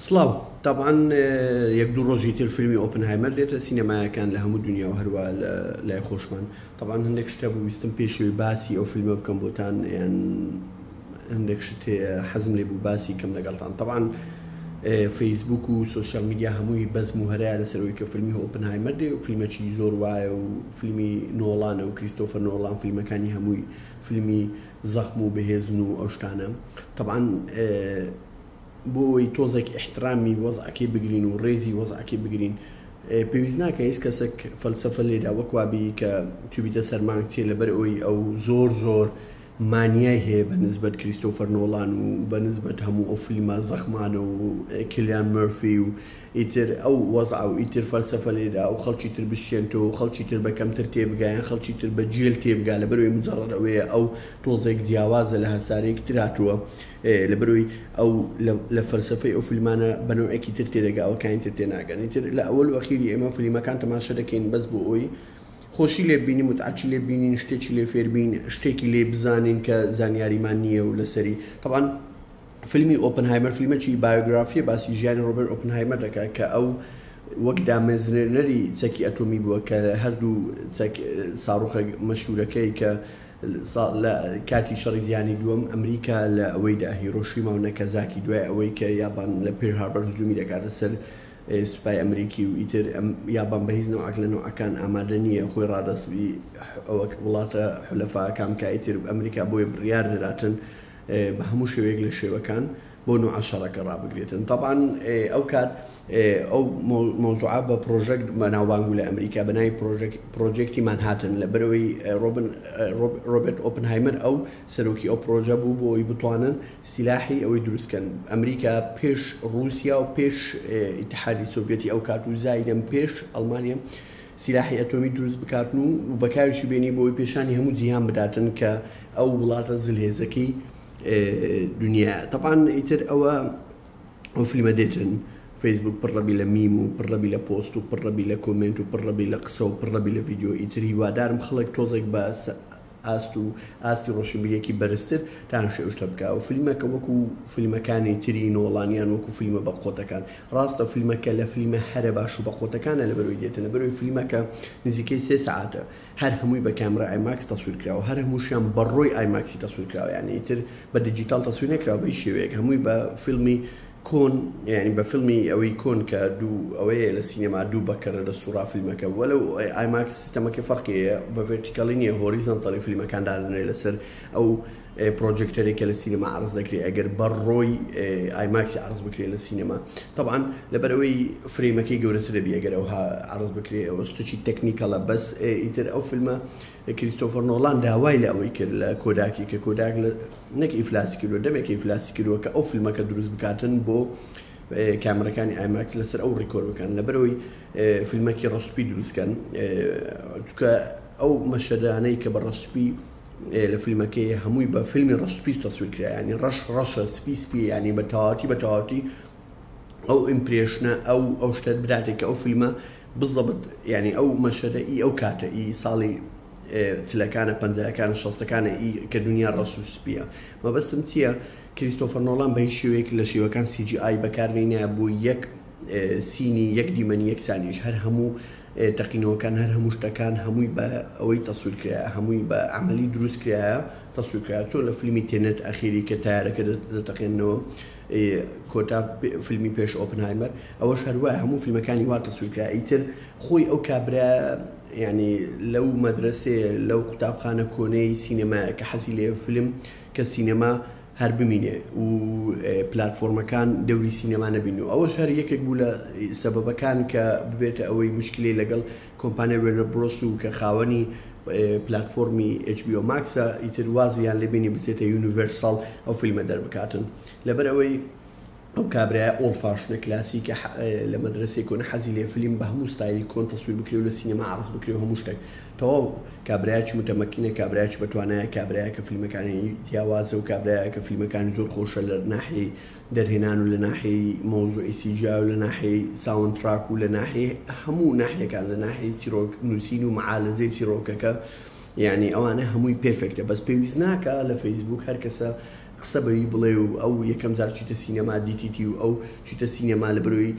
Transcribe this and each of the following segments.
سڵاو، تەبعەن یەک دوو ڕۆژی تر فیلمی ئۆپنهایمەر دێتە سینەمایەکان لە هەموو دنیا و هەروە لە لای خۆشمان تەبعەن هەندێک شتە بوو ویستم پێشەوەی باسی ئەو فیلمە بکەم بۆتان یان هەندێک شت هەیە حەزم لێ بوو باسی کەم لەگەڵتان تەبعەن فەیسبوک و سوسیال میدیا هەمووی بەزم و هەرای لەسەرەوەی کە فیلمی ئۆپنهایمەر دێ و فیلمەکی زۆر وایە و فیلمی نۆڵانە و کریستۆفە نۆڵان فیلمەکانی هەمووی فیلمی زەخم و بەهێزن و ئەو شتانە طبعاان بۆی تۆزێک احترامی وەزعەکەی بگرین و ڕێزی وەزعەکەی بگرین پێویست ناکە هیچ کەسێک فەلسفە لێرا وەکوابی کە توبیتە سەرمانگ چێ لەبەر ئەوی ئەو زۆر زۆر مانیای هەیە بە نسبەت کریستۆفەر نۆڵان و بە نسبەت هەموو ئەو فلیما زەخمانە و کلیان مرفی و ئیتر ئەو وەزعە و ئیتر فەلسەفە لێرە ئەو خەڵکی تر بشکێنتەوە و خەڵکی تر بە کەمتر تێبگا یان خەڵکی تر بە جێل تێبگا لەبەرئەوەی مجەڕەد ئەوەیە ئەو تۆزێک جیاوازە لە هەسارەیەکی تر هاتووە لەبەرئەوەی ئەو لە لە فەلسەفەی ئەو فیلمانە بە نەوعێکی تر تێدەگا ئەوەکانی تر تێناگەن ئیتر لە ئەوەل و ئەخیری ئێمە فلیمەکان تەماشا دەکەین بەس بۆ ئەوەی خۆشی لێ ببینین متعەتی لێ ببینین شتێکی لێ فێر بین شتێکی لێ بزانین کە زانیاریمان نییە و لەسەری تەبعەن فیلمی ئۆپنهایمەر فیلمەکی بایۆگرافییە باسی ژیانی ڕۆبێرت ئۆپنهایمەر دەکات کە ئەو وەک دامەزرێنەری چەکی ئەتۆمی بووە کە هەردوو ساڕوخە مەشهورەکەی کە لە کاتی شەڕی جیهانی دووەم ئەمریکا لە ئەوەیدا هیرۆشیما و نەکەزاکی دوای ئەوەی کە یابان لە پێر هاربەر هجوومی دەکاتە سەر سوپای ئەمریکی و ئیتر یابان بە هیچ نەوەک لە نەوەکان ئامادە نییە خۆی ڕادەستی ئەوەک وڵاتە حلەفاکان کە ئیتر ئەمریکا بۆی بڕیار دەداتن بە هەموو شێوەیەک لە شێوەکان بۆ نوعە شەڕەکە ڕابگرێتن تەبان ئەو کات ئەو مۆزوعە بە پرۆژەک مەناوبانگ لە ئەمریکا بەنای پرۆژێکتی مانهاتن لە بەرەوەی ڕۆبرت ئۆپنهایمەر ئەو سەرۆکی ئەو پرۆژە بوو بۆ ئەوی بتوانن سیلاحی ئەوەی دروستکەن ئەمریکا پێش رووسیا و پێش ئتحادی سوڤەتی ئەو کات و زایدەم پێش ئەلمانیا سیلاحی ئەتۆمی دروست بکاتن و بەکاریشی بێنی بۆ ئەوەی پێشانی هەموو جیهان بداتن کە ئەو وڵاتە زلهێزەکەی دنیایە تەبان ئیتر ئەوە ئەو فیلمە دێتن فەیسبوک پڕڕەبی لە میم و پڕڕەبی لە پۆست و پڕڕەبی لە کۆمنت و پڕڕەبی لە قسە و پڕڕەبی لە ڤیددیو ئیتری وادارم خەڵک تۆزێک بە ئاست و ئاستی ڕۆشنبیریەکی بەرزتر تان شێوشتە بکا و فلیمەکە وەکو فلیمەکانی تری نۆڵانیان وەکو فلیمە بە قۆتەکان ڕاستە فلیمەکە لە فلیمە هەرە باش و بە قۆتەکانە لە بەرۆی دێتە لە بەرۆی فلیمەکە نزیکەی سێ سەعاتە هەر هەمووی بە کامرای ئایماکس تەسویر کراوە هەر هەمووشیان بە ڕۆی ئایماکسی تەسویر کراوە یانی ئیتر بە دیجیتاڵ تەسویر نەکراوە بە هیچ شێوەیەک هەمووی بە فیلمی کۆن یانی بە فیلمی ئەوەی کۆن کە دوو ئەوەیە لە سینەما دوو بەکەرە لە سوڕا فیلمەکە بووە لەو ئایماکس سیستەمەکە فەرقیەیە بە ڤێرتیکەڵی نیە هۆریزانتەڵی فیلمەکان دادەنێ لەسەر ئەو پرۆجێکتەرێکە لە سینەما عرض دەکرێت ئەگەر بە ڕۆی ئایماکسی عرض بکرێت لە سینەما طبعاان لەبەر ئەوەی فرەیمەکەی گەورەترە بێگەرەوە عرض بکرێت ئەوە سوچی تەکنیکەڵە بەس ئیتر ئەو فیلمە کریستۆفەر نۆڵان داوای لە ئەوەی کرد لە کۆداکی کە کۆداک لە نەک ئیفلاسی کردوە دەمێکە ئیفلاسی کردوە کە ئەو فیلمەکە دروست بکاتن بۆ کامەرەکانی ئایماکس لەسەر ئەو ڕیکۆر بکەن لەبەرەوەی فیلمەکی ڕسپی دروستکەن چکە ئەو مەشەدانەی کە بە ڕسپی لە فیلمەکەی هەمووی بە فیلمی ڕسپی تەسویرکرایانی ڕەش ڕەشە سپی سپی ینی بە تەواتی بە تەواتی ئەو ئیمپرێشنە ئەو ئەو شتە براتێک کە ئەو فیلمە بزەبت ینی ئەو مەشەدە ئی ئەو کاتە ئی ساڵی چلەکانە پەنجەکان شەستەکانە ئی کە دنیا ڕسوسپیە مەبەستم چییە کریستۆفەرنۆڵان بە هیچ شێوەیەک لە شێوەکان سیجی ئای بەکاربینە بۆ یەک سینی یەک دیمەنی یەک سانیش هەر هەموو تەقینەوەکان هەر هەموو شتەکان هەمووی بە ئەوەی تەسوورکرا هەمووی بە عملی دروستکرایە تەسوورکرا چۆن لە فیلمی تێنێت ئەخیری کە تارەکە دەتەقێنەوە کۆتا فیلمی پێش ئۆپنهایمەر ئەوەش هەروە هەموو فیلمەکانی وا تەسویرکرا ئیتر خۆی ئەو کابرا ینی لەو مەدرسێ لەو قوتابخانە کۆنەی سینەما کە حەزی لێ فیلم کە سینەما هەر بمینێ و پلتفۆرمەکان دەوری سینەما نەبین و ئەوە هەر یەکێک بوو لە سەبەکان کە ببێتە ئەوەی مشکلی لەگەڵ کۆمپانیای وێرنەر برۆس و کە خاوەنی پلاتفۆرمی ئێچ بی ئۆ ماکسە ئیتر وازیان لێ بینی بچێتە یونیڤەرساڵ ئەو فیلمە دەربکاتن لەبەر ئەوەی ئەو کابرای ئۆڵ فاشنە کلاسیکە لە مەدرسێک کۆن حەزی لێ فیلم بە هەموو ستایلی کۆن تەسویر بکرێ و لە سینەما عرض بکرێ و هەموو شتێک تەواو کابراایکی متەمەکینە کابراایکی بەتوانایە کابراایە کە فیلمەکانی جیاوازە و کابراایە کە فیلمەکانی زۆر خۆشە لە ناحی دەرهێنان و لە ناحیەی مەوزوعی سی جیا و لە ناحیەی ساوند تراک و لە ناحیەی هەموو ناحیەکان لە ناحیەی چیرۆک نووسین و معالەزەی چیرۆکەکە یعنی ئەوانە هەمووی پێرفێکتە بەس پێویست ناکا لە فەیسبووک هەر کەسە قسە بەوی بڵێ و ئەو یەکەم جار چیتە سینەما دیتیتی و ئەو چیتە سینەما لە برۆی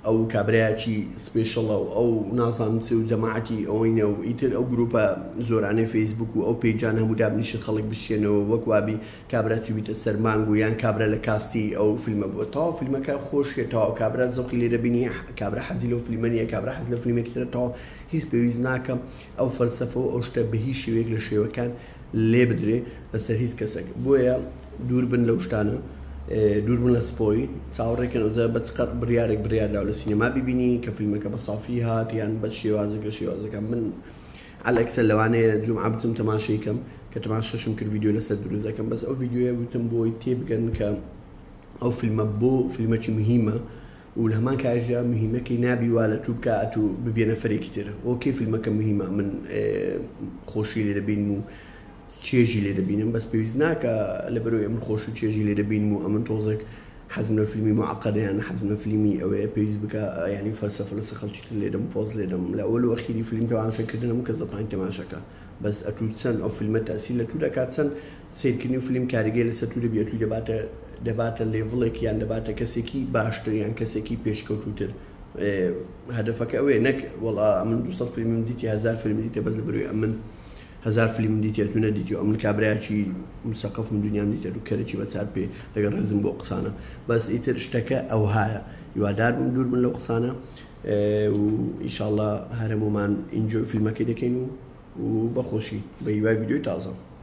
ئەو کابراچی سپێشڵە و ئەو نازان چ و جەماعەتی ئەوینە و ئیتر ئەو گروپە زۆرانەی فەیسبووک و ئەو پێیجان هەموو دابنیشن خەڵک بشێنەوە وەک وابی کابرا چوویتە سەر مانگ و یان کابرا لە کاستی ئەو فیلمە بووە تەواو فیلمەکە خۆشیە تەواو کابرا زەوقی لێرە بینیە کابرا حەزی لەو فیلمە نیە کابرا حەز لە فیلمێکی ترە تەواو هیچ پێویست ناکە ئەو فەلسەفە و ئەو شتە بە هیچ شێوەیەک لە شێوەکان لێ بدرێ لەسەر هیچ کەسێک بۆیە دوور بن لەو شتانە دوور بن لە سپۆی چاوەڕێکن ئەوزە بە چقەت بڕیارێک بڕیاردا لە سینەما ببینی کە فیلمەکە بە سافی هات یان بە شێوازێک لە شێوازەکان من ئەلەکسە لەوانەیە جومعە بچم تەماشەی کەم کە تەماشەشم کرد ڤیدیۆ لەسەر دروست دەکەم بەس ئەو ڤیدیۆیە وتم بۆی تێبگەن کە ئەو فیلمە بۆ فیلمەکی مهمە و لە هەمان کاژدا مهمەکەی نابی وا لە تو بکات و ببێنە فەرێکی تر ئۆکەی فیلمەکە مهمە من خۆشی لێ دەبین و چێژی لێ دەبینم بەس پێویست ناکا لەبەرئەوەی ئەمن خۆش و چێژی لێ دەبینم و ئەمن تۆزێک حەزم لە فیلمی معقدە یان حەزم لە فیلمی ئەوەیە پێویست بکا یانی فەلسەفە لەسە خەڵکی تر لێدەم پۆز لێدەم لە ئەوەل و ئەخیری فیلم تەماشە کردن هەموو کەس دەتوانێت تەماشا کا بەس ئەتوو چەن ئەو فیلمە تەسیل لە تو دەکات چەن سیرکردنی فیلم کاریگەی لەسەر تو دەبی ئەتوی دەباتە دەباتە لێڤڵێک یان دەباتە کەسێکی باشتر یان کەسێکی پێشکەوتوتر هەدەفەکە ئەوێ نەک وەڵا من دو سەد فیلمم دیتی هەزار فیلم دیتە بەس لەبەروی ئەمن هەزار فلیمم دیتێت و نەدیتیوە ئەمن کابرایەکی مسەقەفم دونیام دیتێت و کەرێکی بە چار پێ لەگەڵ ڕێزم بۆ قسانە بەس ئیتر شتەکە ئەوهایە هیوادار بم دوور بن لەو قسانە و ئیشاڵە هەرەمومان ئینجۆی فیلمەکەی دەکەین و و بەخۆشی بە هیوای ویددیوی تازە.